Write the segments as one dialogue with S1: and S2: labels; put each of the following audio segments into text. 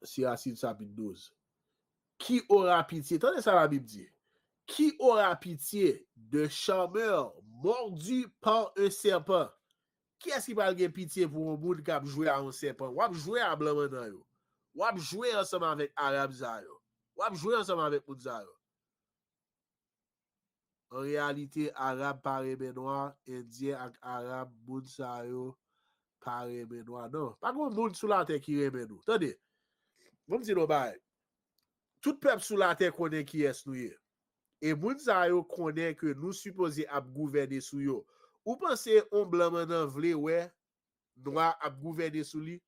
S1: Se Asid chapit 12. Ki ora pitye, tande sa Labib di, Ki ora pitye de charmeur mordu par un serpent? Kiyès ki pral gen pitye pou yon moun k ap jwe a yon sèpan? W ap jwe a blan mannan yo. W ap jwe ansanm avèk Arab sa yo. W ap jwe ansanm avèk moun sa yo. An reyalite, Arab pa renmen nwa, Endyen ak Arab, moun sa yo pa renmen nwa. Non. Pa gen yon moun sou latè ki renmen nou. Tande, ban m di nou yon bagay. Tout pèp sou latè konnen kiyès nou ye. E moun sa yo konnen ke nou sipoze ap gouvène sou yo. Ou panse yon blan mannan vle wè nwa ap gouvène sou li?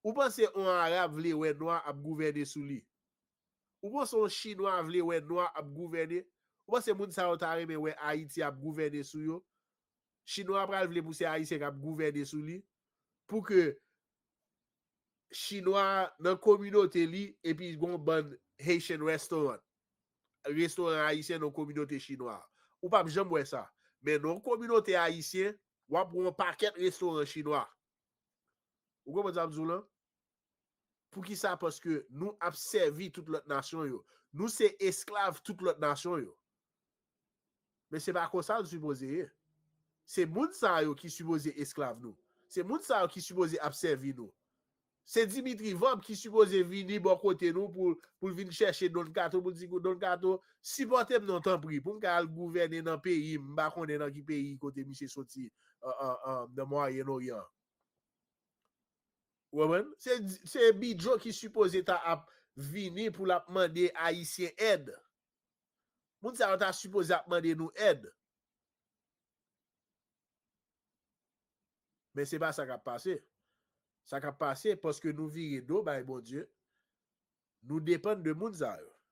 S1: Ou panse yon Arab vle wè nwa ap gouvène sou li? Ou panse yon chinwa vle wè nwa ap gouvène? Ou panse moun sa yo ta renmen wè Ayiti ap gouvène sou yo? Chinwa a pral vle pou se Ayisyen kap gouvène sou li? Pou ke chinwa a nan kominote li epi gon bann Haitian restaurant, restoran Ayisyen nan kominote chinwa a? Ou pap janm wè sa. Men nan yon kominote Ayisyen, wap wè yon pakèt restoran chinwa. Ou konprann sa m di w lan? Poukisa? Paske nou ap sèvi tout lòt nasyon yo. Nou se esklav tout lòt nasyon yo. Men se pa konsa l sipoze ye. Se moun sa yo ki sipoze esklav nou. Se moun sa yo ki sipoze ap sèvi nou. Se Dimitri Vorb ki sipoze vini bò kote nou pou l vin chèche Don Kato pou l di Don Kato, sipòte m non tanpri pou m ka al gouvène nan peyi m. M pa konnen nan ki peyi kote misye soti nan Mwayen Oryan. Ou konprann? Se Bidjo ki sipoze ta ap vini pou l ap mande Ayisyen èd. Moun sa yo ta sipoze ap mande nou èd. Men se pa sa k ap pase. Sa k ap pase, paske nou vire do bay Bondye, nou depann de moun sa yo.